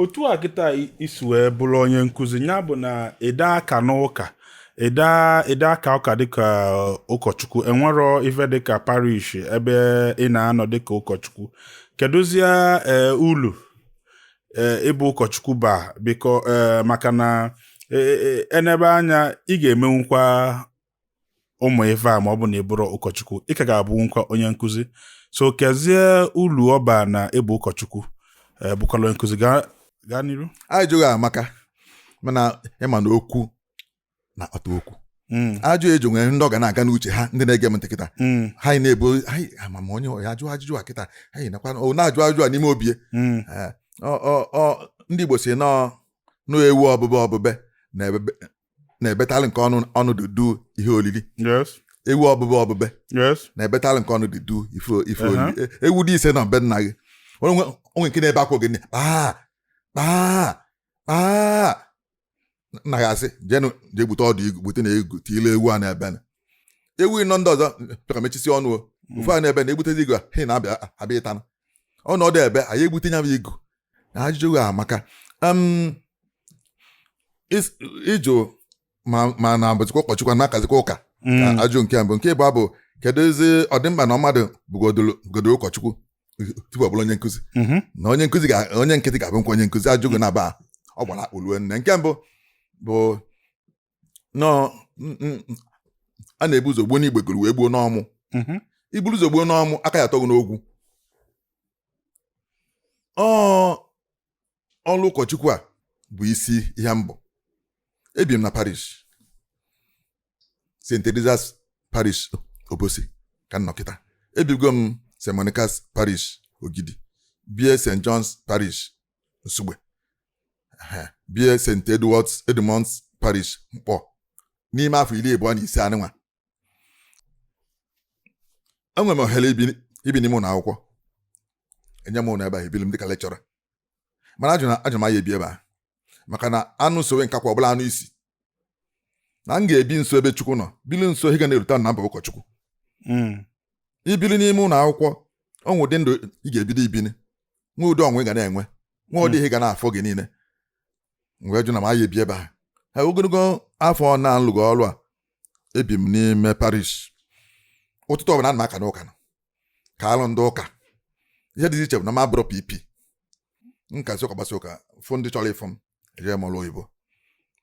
otu a kịta i si wee bụrụ onye nkụzi ya bụ na ị da aka n'ụka ị da aka ụka dịka ụkọchukwu enwero ife dịka parish ebe ị na-anọ dịka ụkọchukwu kedụzie e, ulu e, ịbụ ụkọchukwu baa biko e, maka na enebe anya ị ga-emenwukwa ụmụ ife a ma ọ bụ na ị bụrụ ụkọchukwu ị ka ga-abụnwukwa onye nkụzi so kezie ulu ọ baa na ị bụ ụkọchukwu eh, bụkwara onye nkụzi gaa n'iru ajụjụ gị amaka mana ị ma na okwu na ọta okwu hmm. ajụjụ gị nwere ndị ọ ga na-aga n'uche ha ndị na-ege m ntị kịta hmm. ha na-ebu anyị ama m onye ya ajụ ajụjụ a kịta anyị nakwa na-ajụ ajụjụ a n'ime obi hmm. eh, ndị Igbo sị na ọ ewu obube obube na na-ebetalụ nke ọnụ ọnụ dudu ihe olili yes ewu obube obube yes na-ebetalụ nke ọnụ dudu ife ife Aha. olili E- ewu dị ise na be nna gị onye nwe o nwe nke na-ebe akwa oge nine kpaa kpaa kpaa nna gị asị jenụ jee gbute ọdụ igu gbute na igu tiile ewu a na-ebe na ewu ịnọ ndị ọzọ chọka mechisi ọnụ o ofu a na-ebe na egbutezi igu a, ha na-abịa abịa ịta na ọ nọdụ ebe anyị egbute nya bụ igu na ajụjụ gị amaka ị jụ ma na-abụzikwa ụkọchukwu na-akazikwa ụka mm. ajụjụ nke mbụ nke ịbụa bụ keduzi ọ dị mkpa na mmadụ bụgodoro ụkọchukwu tupu ọ bụrụ onye nkụzi mm-hmm. na onye nkụzi onye nkịtị ga-abụnwukwa onye nkụzi ajụjụ gị naabọ gbara akpụ ruo nne nke mbụ bụ na ọ n- n- a na-ebu ụzọ gbuo n'igbeguru wee gbuo n'ọmụ Mhm. i buru ụzọ gbuo n'ọmụ aka ya atọ gị n'ogwu ọ ọlụ ụkọchukwu a bụ isi ihe mbụ ebi m na parish st teresa's parish obosi ka m nọ kịta ebigo m st monica's parish ogidi bie st john's parish nsugbe bie st edwards edmund's parish nkpor n'ime afọ iri abụọ na ise anịnwa enwere m ohere ibi n'ime ụlọ akwụkwọ enye m ụlọ ebe a ebili m dịka lecturer mana ajụ m na m aya ebi ebe a maka na anụ sowe nkakwụ ọ bụlụ anụ isi na m ga-ebi nso ebe Chukwu nọ bili nso ihe ga na-erota na m bụ ụkọchukwu hmm. i bili n'ime ụlọ akwụkwọ o nwe ụdị ndụ ị ga-ebido ibi o nwe ụdị ọnwụnwa ị ga na-enwe nwe ụdị ihe ga na-afọ gị niile m wee jụ na m aya ebi ebe ha ha ogologo afọ na m lụgo ọrụ a ebi m n'ime parish ụtụtụ ọbụla ana m aka n'ụka kaalụ ndị ụka ihe dị iche bụ na m abụrọ pp m kasịa ụka gbasa ụka fụ ndị chọrọ ịfụ m ejee m ọrụ oyibo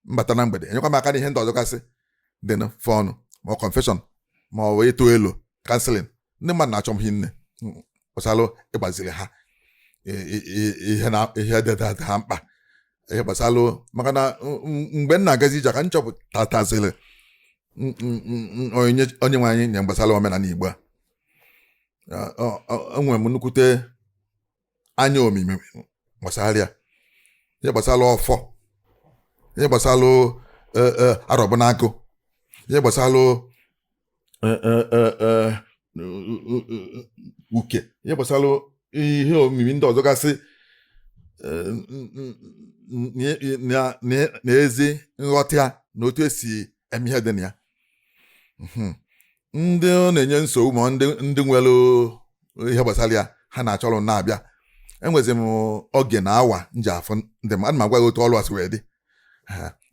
m bata na mgbede enyekwa m aka n'ihe ndị ọzọ gasị dị na fọnụ ma ọ confession ma ọ bụ ịtụ elo counselling ndị mmadụ na-achọ m hinne gbasara ịgbaziri ha ihe dị ha mkpa ihe gbasara maka na mgbe m na-agazi ije ka m chọpụtataziri onye nwe anyị nye gbasara omenala Igbo a enwere m nnukwute anya omimi gbasara ya ihe gbasara ọfọ ihe gbasara e, e, arọbụnagụ ihe gbasara e, uke ihe gbasara ihe omimi ndị ọzọ gasị na ezi nghọta na otu esi eme ihe dị na ya hmm. ndị ọ na-enye nsogbu ma ndị nwere ihe gbasara ya ha na-achọrọ na-abịa enwezi m oge na awa m ji afụ ndị m ana m agwa gị otu ọrụ a si wee dị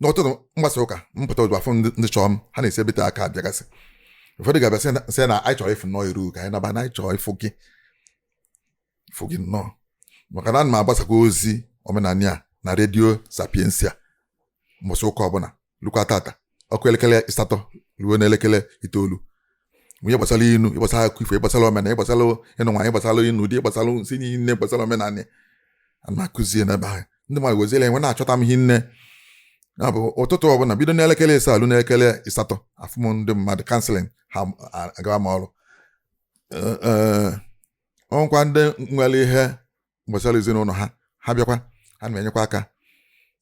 n'ụtụtụ m gbasaa ụka m pụta ozugbo afụ ndị chọọ m ha na-esi ebe tere aka abịagasị ụfọdụ ga-abịa sị na anyị chọrọ ịfụ nnọọ iru ka anyị naba na anyị chọrọ ịfụ gị fụ gị nnọọ maka na ana m agbasakwa ozi omenala a na redio Sapientia mbọsị ụka ọbụla lukwa tata ọ kụọ elekere ịsatọ ruo n'elekere itoolu ihe gbasara inu ihe gbasara akụkọ ifo ihe gbasara omenala ihe gbasara ịnụ nwaanyị ihe gbasara ịnụ di ihe gbasara nsi niile gbasara omenala a na-akụzie n'ebe ahụ ndị mmadụ weziela enwe na-achọta m hinne ya bụ ụtụtụ ọbụla bido n'elekere ịsaa ruo n'elekere ịsatọ afụ m ndị mmadụ counselling ha agawa m ọrụ o nwekwaa ndị nwere ihe gbasara ezinụlọ ha ha bịakwa a na-enyekwa aka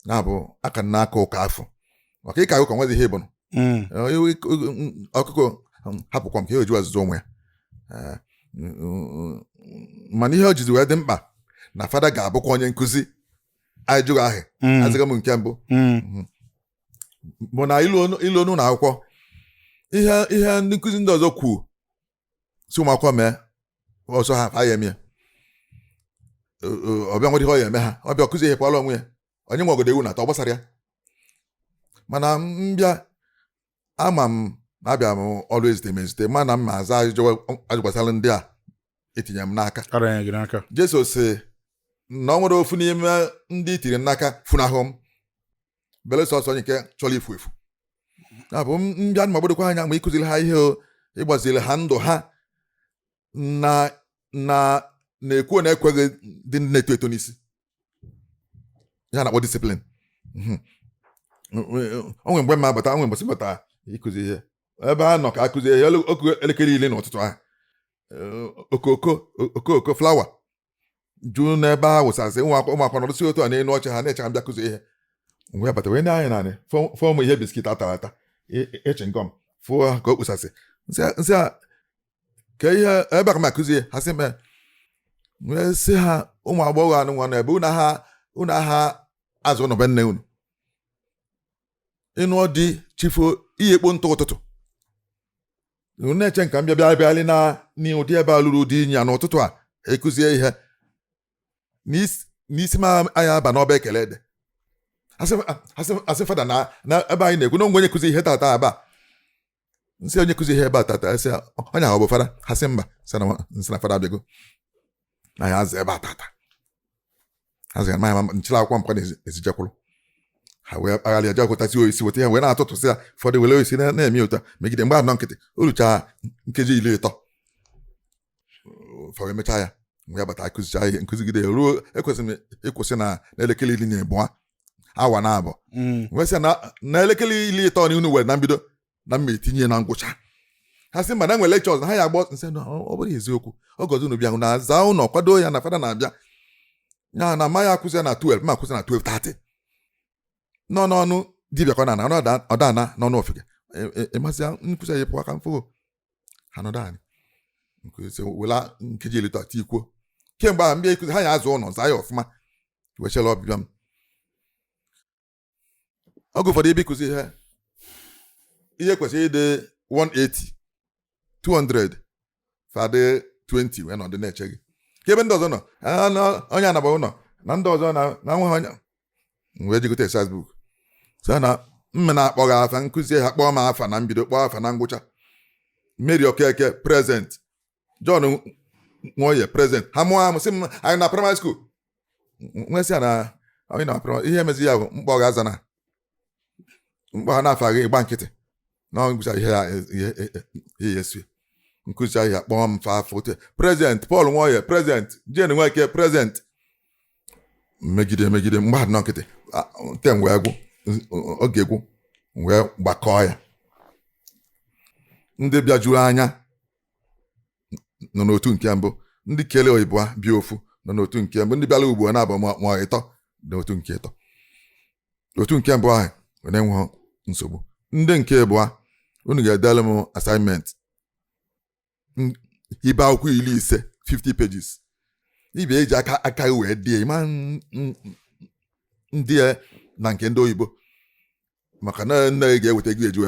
ya bụ a ka na-aka ụka afụ maka ịka ụka nwezi ihe ọ bụnụ hmm. ọkụkọ um, hapụ kwọm kee ihe o jiwa azụzi ụmụ ya eh, mana ihe o jizi wee dị mkpa na fada ga-abụkwa onye nkụzi ajụjụ ahụ hmm. azịza m nke mbụ hmm. mhm. bụ na i luo n'ụnọ akwụkwọ ihe ihe ndị nkụzi ndị ọzọ kwuo sị ụmụ akwụkwọ mee ọ sọ ha fa ya-eme ya ọ bịa nwere ihe ọ ya-eme ha ọ bịa ọ kụzie ihe pụara onwe ya onye nwe ogodo ewu na-ata ọ gbasara ya mana m bịa ama m na abịa m ọrụ ezite m ezite ma na m ya-aza ajụjụ gbasara ndị a etinye m n'aka Jesu sị na o nwerọ ofu n'ime ndị i tiiri m n'aka funahụ m belụsọ sọ onye nke chọrọ ifu efu ya bụ m bịa m gbadokwa anya ma ịkụziri ha ihe ịgbaziri ha ndụ ha na na na-ekwu na ekweghị ndị na-eto eto n'isi ya a na-akpọ discipline mhm. o nwe mgbe m bata o nwe mbọsị m bata ịkụzi ihe ebe a nọ ka akụzi ihe ọ kụọ elekere iri n'ụtụtụ ahụ okooko okooko flower juu n'ebe a wụsasị ụmụakwụkwọ nọrụsị otu a n'elu oche ha na-eche m bịa kụzi ihe m wee bata wee nee anya naanị fọm ihe biskit a tara ata chewing gum fụọ ha ka ọ wụsasị nsị a ka ihe ebe ka m akụzie ha sị mee wee sị ha ụmụ agbọghọ anụ nwa na ebe unu aha aza ụnọ be nne unu ịnọdụ chi fo ihe ikpo ntụ ụtụtụ na-eche ka m bịa bịa bịalị na n'ụdị ebe a luru ụdị inyi a n'ụtụtụ a akụzi ihe n'isi m anya aba n'ọba ekele dị ha sị fada na ebe anyị na-ekwu na o nwe onye kụzi ihe tata aba nsị onye kụzi ihe ebe a tata sị onye ahụ ọ bụ fada ha sị mba nsị na fada abịago na ya aza ebe a tata aza ya ma ya nchịla akwụkwọ m pụa n'ezi je kwụrụ ha wee kpagharị ya jekwụtasị oisi weta ya wee na-atụtụsị ya ụfọdụ were oisi na-eme otu a megide mgbe a nọ nkịtị o rucha nkeji iri ịtọ fa wee mecha ya m wee bata akụzicha ihe nkụzigide ruo ekwesịrị m ịkwụsị na n'elekere iri na ịbụọ awa na abụọ mm. m wee sị na n'elekere iri ịtọ na unu were na mbido na m ma etinye na ngwụcha ha sị mba na e nwere lecture ọzọ ha ya agbọ nsị na ọ bụrụ eziokwu oge ọzọ unu bịa hụ na aza ụlọ kwado ya na fada na-abịa ya na amaghị akụzi ya na 12 ma akụzi na 12 30 nọ n'ọnụ dibịa ka ọ na-ada ọ dana n'ọnụ ofeke ịmasị e, e, ya nkụzi ya pụọ aka mfụgo ha nọdụ anyị wela nkeji iri atọ tikwuo kemgbe ahụ m bịa ikuzi ha ya aza ụlọ zaa ya ọfụma wee chela ọbịbịa m oge ụfọdụ ebe ịkụzi ihe ihe kwesịrị ịdị 180 200 fa dị 20 wee nọdụ na-eche gị kee ebe ndị ọzọ nọ onye anaba ụlọ na ndị ọzọ na nwa wee je gote exercise book sị na m ma na-akpọ ha afa nkụzi a kpọọ m afa na mbido kpọọ afa na ngwụcha Mary Okeke present John Nwoye present ha mụọ amụ sị m anyị nọ primary school m wee sị ya na anyị nọ primary ihe emezi ya bụ m kpọọ gị aza na m kpọ ha na-afa gị ị gba nkịtị na ngwụcha ihe ya ihe ihe ya esie nkụzi ahụ ya kpọọ m afa afọ ote present Paul Nwoye present Jane Nweke present megide megide mgbe a dị nọ nkịtị a, term wee gwụ n- oge gwụ m wee gbakọọ ya ndị bịajuru anya nọ n'otu nke mbụ ndị kele oyibo a bịa ofu nọ n'otu nke mbụ ndị bịara ugbo naabọ ma ma ịtọ n'otu nke ịtọ otu nke mbụ ahụ were nwe nsogbu ndị nke abụọ unu ga-edere m assignment ibe akwụkwọ iri ise 50 pages ibe eji aka aka wee dee ma ndị ya na nke ndị oyibo maka na nne gị ga-eweta gị eji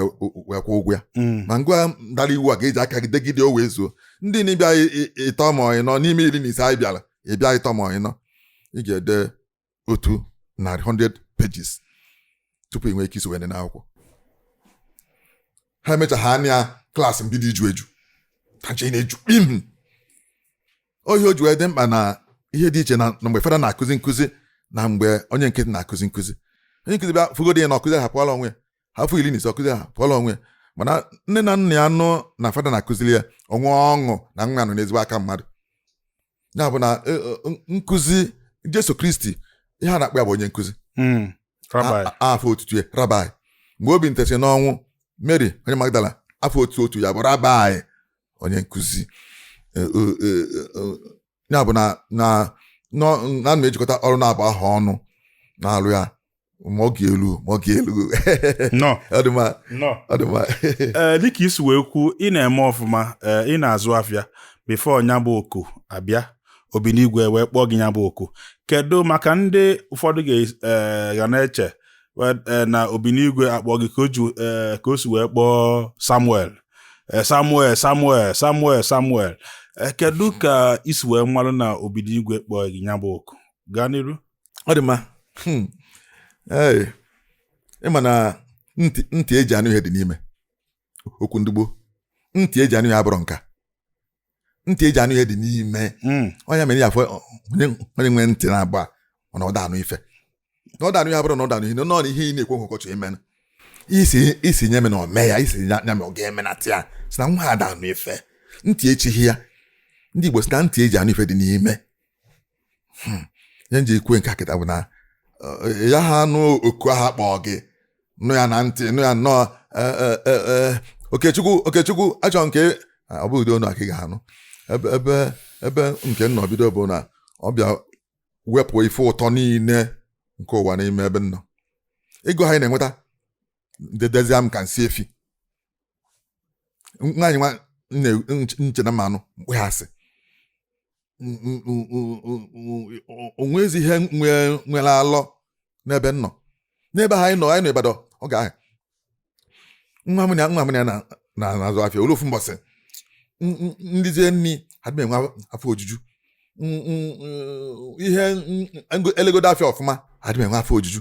wee kwụ ụgwọ ya mm. ma gịnwa dara iwu a ga-eji aka gị degide o wee zuo ndị na-abịa ịta mọị mọị n'ime iri na ise anyị bịara ịbịa ịta mọị mọị ị ga-ede otu narị 100 pages tupu ị nwee ike isonye n'akwụkwọ ha emechaghị anya class m bido iju eju tacha na-eju kpim ihe o ji wee dị mkpa na ihe dị iche na mgbe fada na-akụzi nkụzi na mgbe onye nkịtị na-akụzi nkụzi onye nkụzi bịa fụgodo ya na ọkụzi ha pụọla onwe ya ha fụ iri na ise ọkụzi ha pụọla onwe ya mana nne na nna ya nụ na fada na-akụziri ya o nwee ọṅụ na nwa nọ n'ezigbo aka mmadụ ya bụ na e, e, nkụzi Jesu Kristi ihe a na-akpọ ya bụ onye nkụzi hmm. afa otutu ya Rabbi mgbe o binitesị n'ọnwụ Mary onye Magdala afa otu otu ya bụ Rabbi onye nkụzi e, ya bụ na na na-ejikọta ọrụ naabọ ahụ ọnụ na-alụ ya ma ọ ga-elu ma ọ ga-elu nọ ọ dị mma nọ ọ dị mma ee dịka i si wee kwuo ị na-eme ọfụma ee ị na-azụ afịa before nya bụ oku abịa Obinigwe wee kpọọ gị nya bụ oku kedu maka ndị ụfọdụ ga- ee, ga na-eche we- ee, na Obinigwe akpọ gị ka o ji ee, ka o si wee kpọọ samuel Ee, samuel samuel samuel samuel Ee, kedu ka i si wee malụ na Obinigwe kpọọ gị nya bụ oku gaa n'iru ọ dị mma hmm. ị ma na ntị eji anụ ihe dị n'ime okwu ndị Igbo ntị eji anụ ihe abụrọ nke a ntị eji anụ ihe dị n'ime hmm. onye mere ya afụ onye nwere ntị naabọ mana ọ da anụ ife na ọ da anụ ihe abụrọ na ọ da anụ ihe nọ na ihe ị na-ekwu nke ọ chọ ime ị sị nya mee na o mee ya ị sị nya mee ọ ga-eme na tị ya si na nwa ada anụ ife ntị echighị ya ndị Igbo si na ntị eji anụ ife dị n'ime hmm. ihe m ji ekwu nke a kịta bụ na eh, ya ha anụ oku aha kpọọ gị nụ ya na ntị nụ ya nnọọ eh, eh, okechukwu okechukwu achọ m ka ah, ọ bụ ụdị onu a ka ị ga-anụ ebe ebe ebe nke m nọ bido bụ na ọ bịa wepụ ife ụtọ niile nke ụwa n'ime ebe m nọ ego anyị na-enweta dịdịzie m ka nsị efi nwaanyị nwa m che na m ma-anụ mkpụghasị o nwezi ihe nwere alọ n'ebe m nọ n'ebe ha anyị nọ anyị nọ Ibadan oge ahụ nwa m nwa m ya na-azụ afịa o lu ofu mbọsị nrizie nri adị m enwe afọ ojuju ihe elegodo afịa ọfụma adị m enwe afọ ojuju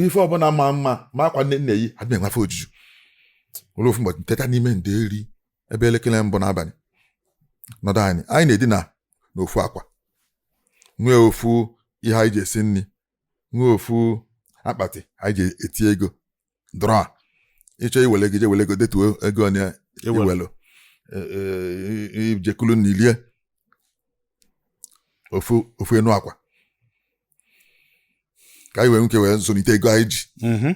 ife ọbụla ma mma ma akwa m na-eyi adị m enwe afọ ojuju o lu ofu mbọsị teta n'ime ndeeri ebe elekere mbụ n'abalị nọdụ anị anyị na-edina n'ofu akwa nwee ofu ihe anyị ji esi nri nwee ofu akpati anyị ji eti ego drawer ị chọọ iwele gị je wele ego detuo ego one i welu e, e, i je kulu nni i lie ofu ofu enu akwa ka anyị wee nwee ike wee zụlite ego anyị ji mhm.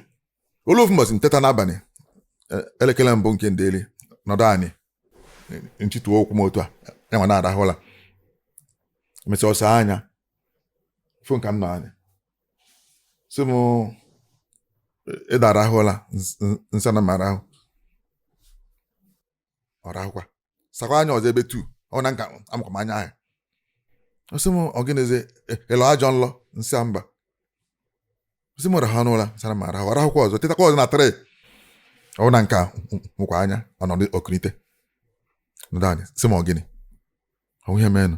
o lu ofu mbọsị nteta n'abalị e, elekere mbụ nke ndeli nọdụ anị nchịtụ ụkwụ m otu a yanwa na-arahụ ụla e mesịa ọ saa anya fụ ka m nọ anị sị m ị da arahụ ụla nsị a na m arahụ ọ rahụkwa sakwa anya ọzọ ebe 2 ọ hụ na aka amụkwa m anya ahụ ọ sị m ọ gịnịzi ị lọ e, ajọ nlọ nsị mba ọ sị m rahụnụ ụla nsị a na m arahụ ọ rahụkwa ọzọ tetakwa ọzọ na 3 ọ hụ na m ka mụkwa anya ọ nọdụ o kunite nọdụ anị sị m ọ gịnị o nwe ihe meenụ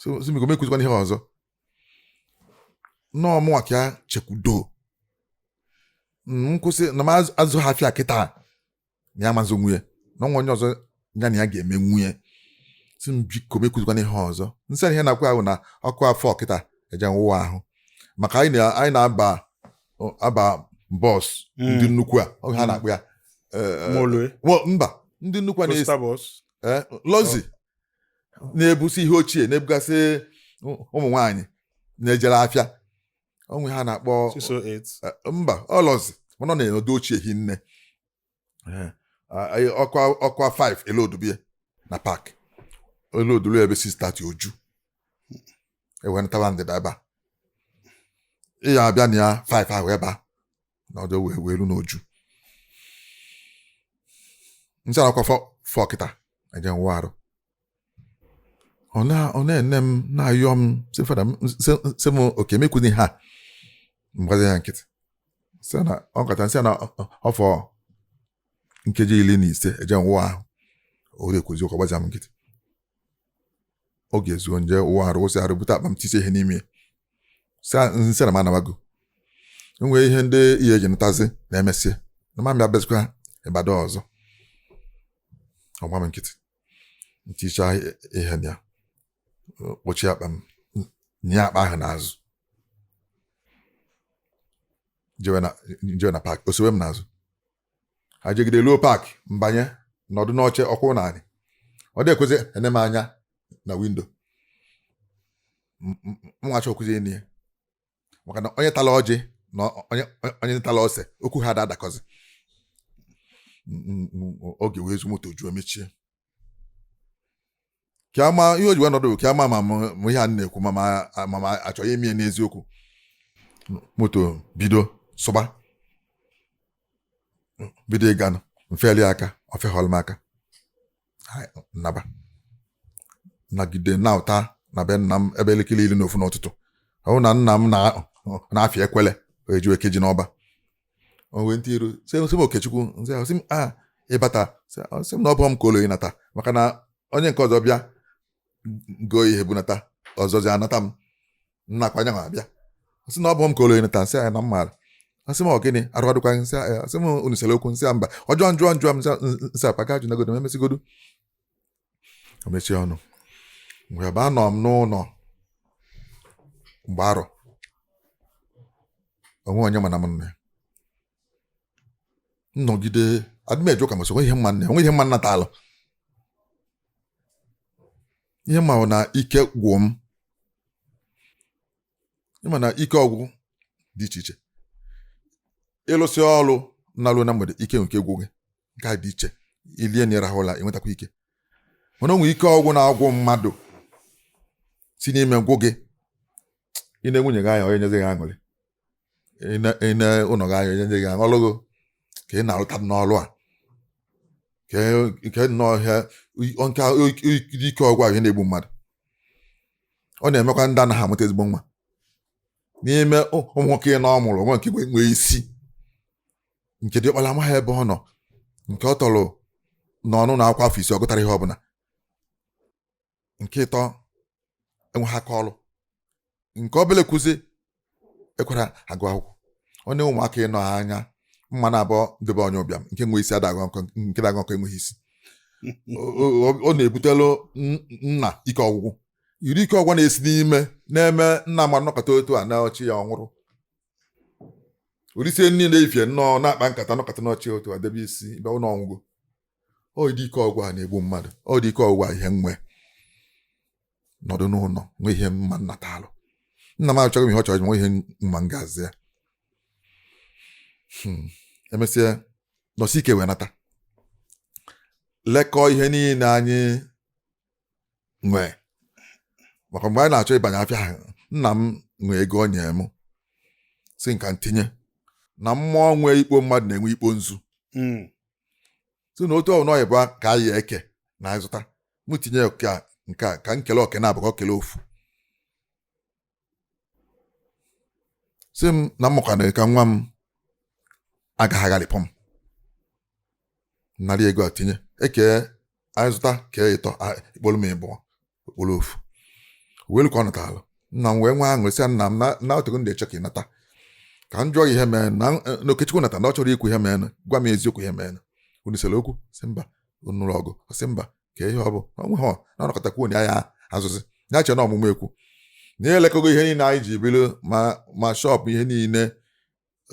sị biko m ekwuzikwana ihe ọzọ na ọ mụnwa ka ya chekwudo nkwụsị na m azụ ha afịa kịta na ya amazị nwunye na nwa onye ọzọ ya na ya ga-eme nwunye sị m biko m ekwuzikwana ihe ọzọ nsị ihe m na-ekwu a wụ na ọ kụa 4 kịta eje m wụwa ahụ maka anyị na-aba aba bus hmm. ndị nnukwu a oge ha hmm. na-akpọ ya eh, eh, mba ndị nnukwu a na-asị eh, luxury na-ebusi ihe ochie na-ebugasị ụmụ nwaanyị na-ejere afịa o nwe aha a na-akpọ oh mba ọ luxury mana ọ na-emedu ochie hinne ọ kụa 5 e lodubie na park e lodulu ebe 6:30 o ju e wenatawa ndịda ebe a ị ya abịa na ya 5 ahụ ebe a nọdụ wee wee ru na o ju nsị a na a kụa 4 kịta eje m wụa arụ ọ na-ene m na-ayọ m si fada sị m okay m ekwuzi ha m gbazi ya nkịtị sị na ọ kata nsị na ọ fọ nkeji iri na ise eje m wụa ahụ o rekwuzi ụka gbazi m nkịtị oge ezuo nje wụa arụ wụsị arụ bute akpa m tiisi ihe n'ime ya nsị na m anabago enwee ihe ndị ihe eji nụtazi na emesịa na mụ abịabezikwa ịbada ọzọ ọ gba m nkịtị ntiicha ihe na ya kpọchie akpa m nya akpa ahụ n'azụ jewe na paakị o sowe m n'azụ ajegide luo paakị m banye nọdụ n'oche ọ kwụ n'anị ọ dị ekwuzi ene m anya na windo mwa achọ okwuzi enyi ya maka na onye tala ọjị na onye tala ose okwu ha ada adakọzi oge wee zu moto juo mechie ka ama ihe o ji wee nọdụ ka ama ma m ihe a na-ekwu ma ma achọghị ime n'eziokwu moto bido sụba bido ịga m feli aka o fehọlụ m aka naba nagide nauta na be nna m ebe elekere iri na ofu n'ụtụtụ ọ bụ na nna m na-afị ekwele eji eke ji n'ọba o wenite iru sị m okechukwu nsị ahụ ọ sị m a ị bata ọ sị m na ọ bụghị m ka o lu ịnata maka na onye nke ọzọ bịa goo ihe bunata ọzọzi anata m nnakwa anya abịa ọ sị m na ọ bụghị m ka o lu ịnata nsị ahụ na m maara ọ sị m ọ gịnị arụ adịkwa nsị ahụ ọ sị m unu sere okwu nsị mba ọ jụọ jụọ jụọ m nsị papa ajụnagodo m emesigodo o mechie ọnụ mgbe ebe anọ m n'ụlọ mgbe arọ o nwe onye ma na m nne nnọgide adịmejo ka masị o nwe ihe m ma nne o nwe ihe m ma nna taalụ ihe ma na ike gwụ m ị ma na ike ọgwụ dị iche iche ị lụsị ọlụ na-alụ na mgbede ike nke gwụ gị nke a dị iche i lie nni ị rahụ ụla i nwetakwa ike mana o nwere ike ọgwụ na-agwụ mmadụ si n'ime gwụ gị i nee nwunye gị anya ọ naghị enyezi gị aṅụrị i nee ụlọ gị anya ọ naghị enyezi gị aṅụ ọlụgo ka ị na-arụta n'ọlụ a nke nnọọ ihe nke ike ọgwụ ahụ na-egbu mmadụ ọ na-emekwa ndị anaghị amụta ezigbo nwa n'ime ụmụ nwoke ịnọ ọ mụrụ o nwe nke nwee isi nke diọkpara amaghị ebe ọ nọ nke ọ tọrọ nọ n'ụnọ akwụkwọ afọ isii ọ gụtara ihe ọbụla nke ịtọ enweghị aka ọrụ nke obele kwuzi ekwerọ agụ akwụkwọ ọ na ụmụaka ịnọ a nya mma naabọ dị be onye ụbịam nke nwe isi ada aghọ nkọ nke na-aghọ nkọ enweghị isi ọ na-ebutelu nna ike ọgwụgwụ iri ike ọgwụgwụ na-esi n'ime na-eme nna ma nọkata otu a na ọchị ya ọ nwụrụ o risie nri efifie nnọọ na-akpa nkata nọkata n'ọchị otu a debe isi ebe ọ nọ nwụọ ọ dị ike ọgwụ a na-egbu mmadụ ọ dị ike ọgwụ a ihe nwe nọdụ n'ụlọ nwe ihe m ma m natalụ nna m achọghị m ihe ọ chọrọ nwe ihe m ma m ga-aza ya hmm. emesịa nọsi ike wee nata lekọọ ihe niile anyị nwee maka mgbe anyị na-achọ ịbanye afịa ahụ nna m nwee ego o nyere m sị m ka m tinye na mmụọ nwee ikpo mmadụ na-enwe ikpo nzu hmm. sị na otu ọbụna ọ yị-abụ ka anyị kee na anyị zụta m tinye oke a nke a ka m kele oke naabọ ka o kele ofu sị m na m mụkwanụ ka nwa m agaghị agharịpụ m nara ego a tinye ekee anyị zụta kee ịtọ ekpolu m ịbụọ o kpolu ofu welu ka ọ natara nna m wee nwee aṅụrị sị nna m na o tego m ji eche ka ị nata ka m jụọ ihe mere na Okechukwu nata na ọ chọrọ ikwu ihe merenụ gwa m eziokwu ihe merenụ unu sere okwu sị mba unu nụrụ ọgụ sị mba kee ihe ọ bụ na onwe ha na ọ nọkata kwuo na ya azụzi ya che na ọmụmụ ekwu na anyị elekọgo ihe niile anyị ji biri ma ma shọpụ ihe niile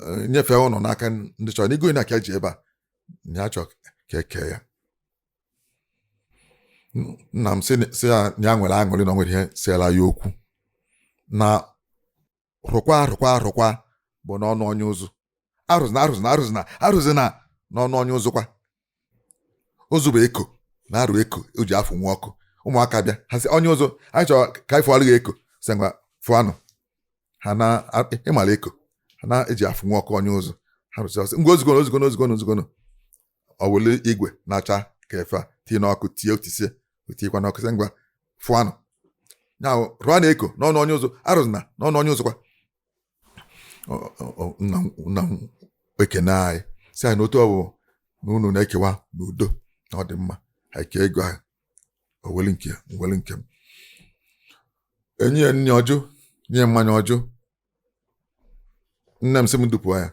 eh, nyefee ụlọ n'aka ndị chọrọnụ ịgo na ka e ji bịa na ya chọọ ka e kee ya nna m sị ya nwere aṅụrị na ọ nwere ihe seela ya okwu na rụkwa arụkwa arụkwa bụ n'ọnụ onye ụzụ arụzina arụzina arụzina arụzina n'ọnụ onye ụzụ kwa ụzụ bụ eko na-arụ eko o ji afụnwe ọkụ ụmụaka bịa ha sị onye ụzụ anyị chọrọ ka anyị fụọrọ gị eko sị ngwa fụanụ ha na ị mara eko a na-eji afụnwe ọkụ onye ụzụ arụsịa ọ sị ngwa ozugbo ozugbo ozugbo ozugbo o wele igwe na-acha ka ife a tinye n'ọkụ tie o tisie o tiekwa n'ọkụ sị ngwa fụanụ ya rụọ na eko n'ọnụ onye ụzụ arụzina n'ọnụ onye ụzụ kwa nna m ekene anyị sị anyị na otu ọ bụ na unu na-ekewa n'udo na ọ dị mma e kee ego ahụ o weli nke ya m weli nke m e nye ya nri ọ jụ nye ya mmanya ọ jụ nne m sị m dupụ ya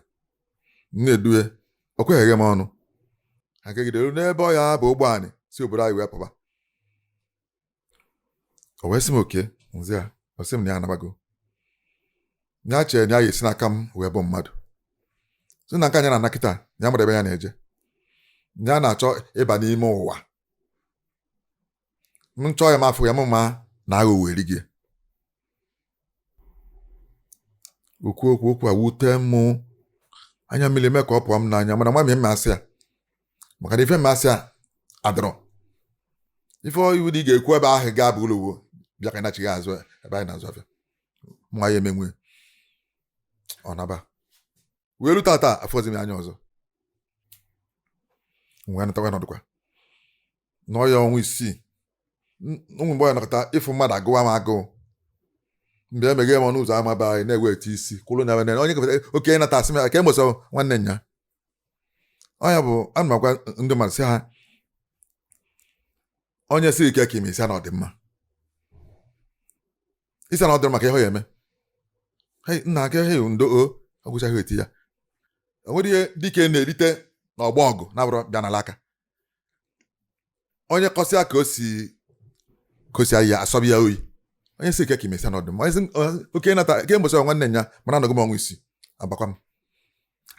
m na-edu ya o kweghị m ọnụ anyị jegide ruo n'ebe ọ ya-aba ụgbọ anyị si obodo anyị wee pụba o wee sị m Oke m za ya ọ sị m na ya anabago ya chere na ya ga-esi n'aka m wee bụ mmadụ si na nke a ya na-ana kịta ya amarọ ebe ya na-eje ya na-achọ ịba n'ime ụwa m chọọ ya m afụ ya m ma na aghụghọ eri gị okwu okwu okwu a wute mụ anya mmiri eme ka ọ pụọ m n'anya mana nwa m ma-asị ya maka na ife m ma-asị ya adịrọ ife iwu dị ị ga-ekwu ebe ahụ ga-abụ ụlọ uwe bịa ka nachighaa azụ ebe anyị na-azụ afịa nwa ya emenwe ọ naba wee lu tata afụzi m anya ọzọ wee natakwa nọdụkwa n'ọya ọnwa isii o nwee mgbe ọ ya-anọkata ịfụ mmadụ agụwa m agụụ mgbe emeghe m ọnụ ụzọ ama be anyị na-eweta isi kwụrụ na-ene onye gafere Oke ị nata asị m ya kee mbọsị nwanne nyaa ọ nya bụ ana m agwa ndị mmadụ sị ha onye sị ị kee ka ị me ị sị ya na ọ dị mma ị sị ya na ọ dịrọ mma kee ihe ọ ya-eme nna aka he ndo o agwụchaa ihe dị ya o nwere ihe dike na-erite n'ọgbọ ọgụ na-abụrọ bịa nala aka onye kọsịa ka o si ya asọba ya oyi onye sị ị kee ka ị me sị ya na ọ dị mma Oke ị nata kee mbọsị nwanne nyaa mana anọgo m ọnwa isii agbakwa m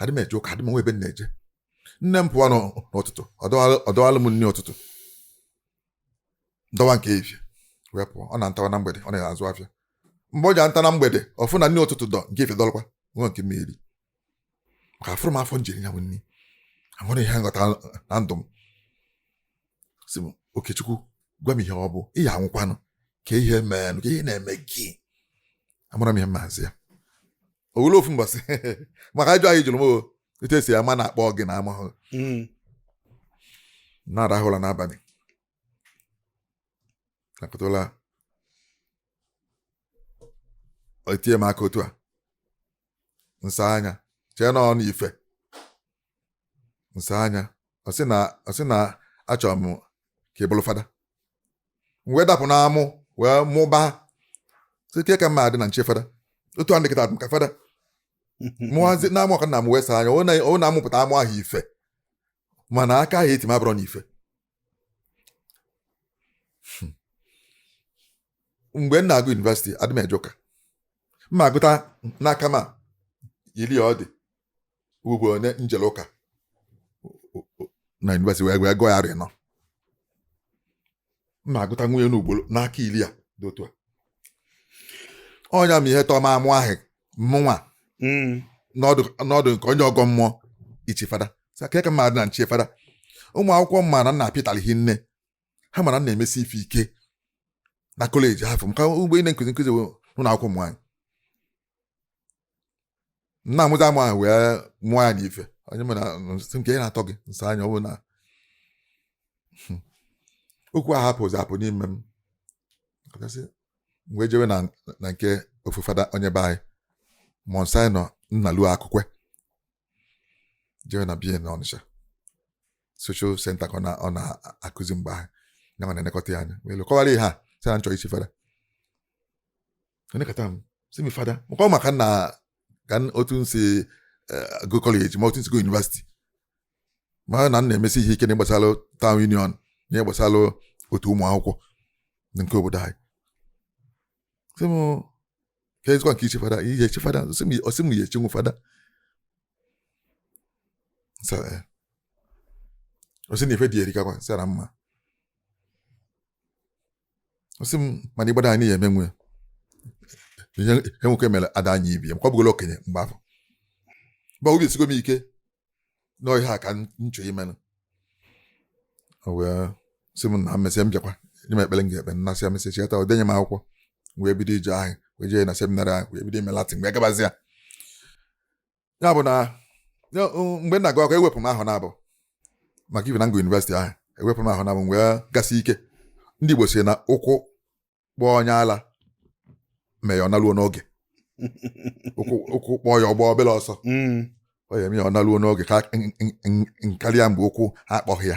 adị m eje ụka adị m enwe ebe m na-eje nne m pụọ n'ụtụtụ ọ dọwalụ m nri ụtụtụ dọwa nke efifie wee pụọ ọ na-anatawa na mgbede ọ na-azụ afịa mgbe ọ ja-anata na mgbede ọ fụ na nri ụtụtụ dọ nke efifie dọlụkwa enwe nke m eri maka afụrọ m afọ m ji eri ya nri amarọ m ihe m ghọta na ndụ m sị m Okechukwu gwa m ihe ọ bụ ị ya-anwụkwanụ kee ihe meenụ kee ihe na-eme gị amarọ m ihe m ma-asị ya o nwere ofu mbọsị maka ajụjụ ahụ ị jụrụ m etu e si ama na a kpọ gị na amahụ hmm. na-arahụ ụla n'abalị nọkatala o tie m aka otu a m saa anya chee na ọ n'ife m saa anya ọ sị na ọ sị na achọrọ m ka ị bụrụ fada m wee dapụ n'amụ wee mụba sị kee ka m ma-adị na m chi fada otu a ndịkịta ka fada mụwazi na-amụ ọ ka m na-amụ wee saa anya ọ na- ọ na m mụpụta amụ ahụ ife mana aka ahụ e ti m abụrọ n'ife Hmm. mgbe m na-agụ yunivesiti adị m eje ụka m ma-agụta n'aka m a, iri ọ dị ugbo one m jelụ ụka na yunivesiti wee wee gụọ ya arọ ịnọ m ma-agụta nwunye n'ugboro n'aka iri a dị otu a ọ nya me ihe tọọ m amụ ahụ mụnwa Mm. nọdụ nọdụ ka onye ọgọ mmụọ ichi fada Sị, "Kee ka m ma-adị na m chi fada ụmụ akwụkwọ mma na nna pịtara hi nne ha mara na-emesi ife ike na kọleji afụ maka mgbe ị na-nkụzi nkụzi n'ụlọ akwụkwọ ụmụ nwaanyị nna amụta ama ahụ wee mụọ ya n'ife onye mụ na nsị nke ya na-atọ gị nsọ anya ọ bụ na hmm. okwu ahụ apụzi apụ n'ime m kasị wee jewe na na nke ofu fada onye be anyị Monsignor Nnalue Akụkwe jewe na be ya na Ọnịcha social center ka ọ na-akụzi mgbe ahụ ya ma na-elekọta ya anya wee kọwara ya sị na nchọ ichi fada o lekata m sị m fada maka maka na ka otu nsi eh, gụọ kọleji ma otu nsi gụọ yunivasiti ma na m na-emesi ihe ike na gbasara town union na gbasara otu ụmụ akwụkwọ nke obodo anyị sị m kezikwa nke ichi fada ị ya-echi fada ọ sị m ị ya-echinwu fada ọ sị eh. na ife dị erikakwa sị ya na m ma ọ sị m mana ị gbado anya ị ya-emenwu ihe nwoke mere ada anyị ibe ya m kwa bụgolo okenye mgbe afụ mgbe obi esigo m ike na ọ ihe a ka nchọ imenụ o wee sị m na mmesịa m bịakwa nye m ekpere m ga-ekpe nnasị ya mesịa cheta o denye m akwụkwọ wee bido ije ahụ wee jee na seminarị ahụ wee bido ime Latin wee gabazi ya ya bụ na mgbe m na-agụ akwụkwọ ewepụ m ahọ naabụ maka ihi na ngụ yunivesiti ahụ ewepụ m ahọ naabụ wee gasị ike ndị Igbo si na ụkwụ kpọọ onye ala mee ya ọ naluo n'oge ụkwụ ụkwụ kpọọ ya ọ gbaa obere ọsọ Mm. ọ ya-eme ya ọ naluo n'oge ka n- n- n- n- karịa mgbe ụkwụ ha akpọghị ya